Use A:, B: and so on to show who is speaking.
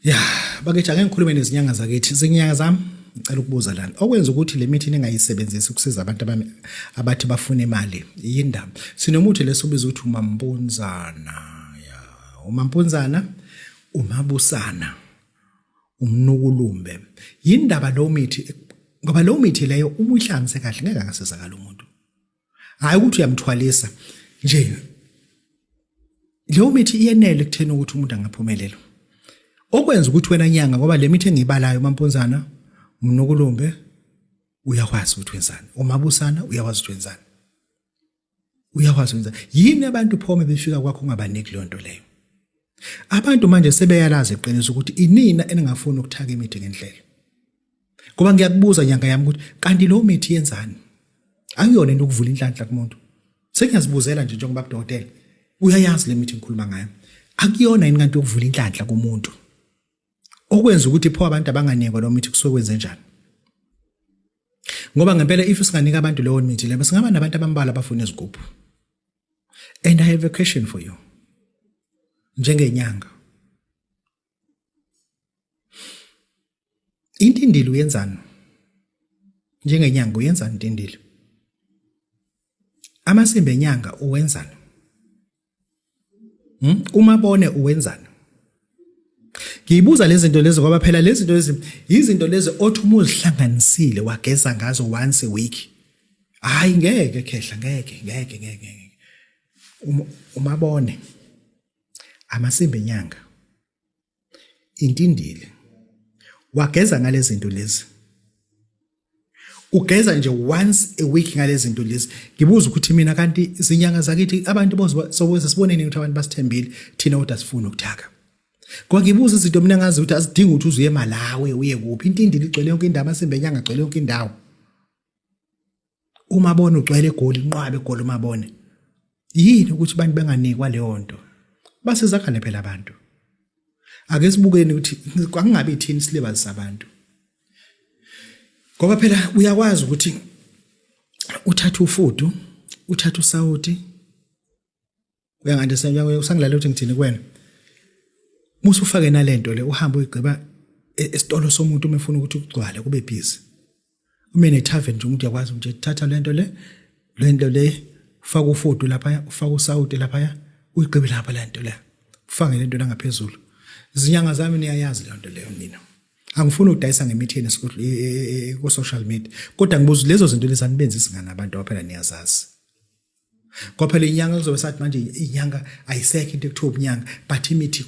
A: ya bakithi ake ngikhulume nezinyanga zakithi zinyanga zami ngicela ukubuza lana okwenza ukuthi le mithi ningayisebenzisi ukusiza abantu abathi bafuna imali yindaba sinomuthi lesobiza ukuthi umampunzana ya umampunzana umabusana umnukulumbe yindaba lo mithi ngoba lo mithi leyo uma uyihlanganise kahle ngeke angasizakala umuntu hayi ukuthi uyamthwalisa nje leyo mithi iyenele kuthena ukuthi umuntu angaphumelela okwenza ukuthi wena nyanga ngoba le mithi engiyibalayo mampunzana mnukulumbe uyakwazi ukuthi wenzani umabusana uyakwazi ukuthi wenzani uyakwazi ukwenza yini abantu phome befika kwakho ungabaniki leyo nto leyo abantu manje sebeyalazi iqiniso ukuthi inina eningafuni ukuthaka imithi ngendlela ngoba ngiyakubuza nyanga yami ukuthi kanti lo mithi yenzani akuyona into ukuvula inhlanhla kumuntu sengiyazibuzela nje njengoba kudokotela uyayazi le mithi ngikhuluma ngayo akuyona yini kanti ukuvula inhlanhla kumuntu okwenza ukuthi pho abantu abanganekwa lo mithi kusuke kwenze njani ngoba ngempela if singanika abantu leyo mithi lebe singaba nabantu abambala abafuna izigubhu and i have a question for you njengenyanga intindili uyenzani njengenyanga uyenzani intindili amasimba enyanga uwenzani hmm? uma bone uwenzani ngiyibuza lezi zinto lezi ngoba phela lezi zinto lezi yizinto lezi othi uma uzihlanganisile wageza ngazo once a week hayi ngeke khehla ngeke ngeke ngeke ngeke umabone amasimba enyanga intindile wageza ngalezi zinto lezi ugeza nje once a week ngalezi zinto lezi ngibuza ukuthi mina kanti izinyanga zakithi abantu bozokweza sibone nini ukuthi abantu basithembile thina kodwa sifuna ukuthaka Kwakibuza izinto mina ngazi ukuthi asidingi ukuthi uzuye eMalawi uye kuphi intindile igcwele yonke indawo amasimba enyanga agcwele yonke indawo uma bona ugcwele egoli inqwabe egoli uma bone yini ukuthi abantu benganikwa leyo nto basizakane phela abantu ake sibukeni ukuthi kwakungabe ithini isilibali sabantu ngoba phela uyakwazi ukuthi uthathe ufudu uthathe usawoti uyangathi usangilalela ukuthi ngithini kuwena musa ufake nalento le uhambe uyigqiba e-, esitolo somuntu uma efuna ukuthi kugcwale kube busy uma enethaven nje umuntu uyakwazi nje thatha lento le lento le ufaka ufudu lapha ufaka usawuti lapha uyigqibe lapha lento le ufake lento la ngaphezulu izinyanga zami niyayazi lento leyo mina angifuni ukudayisa ngemithi yenu e, e, e, ku-social media kodwa ngibuza lezo zinto lezi anibenzisi ngani abantu abaphela niyazazi kwaphela inyanga kuzobe sathi manje inyanga ayisekho into ekuthiwa ubunyanga but imithi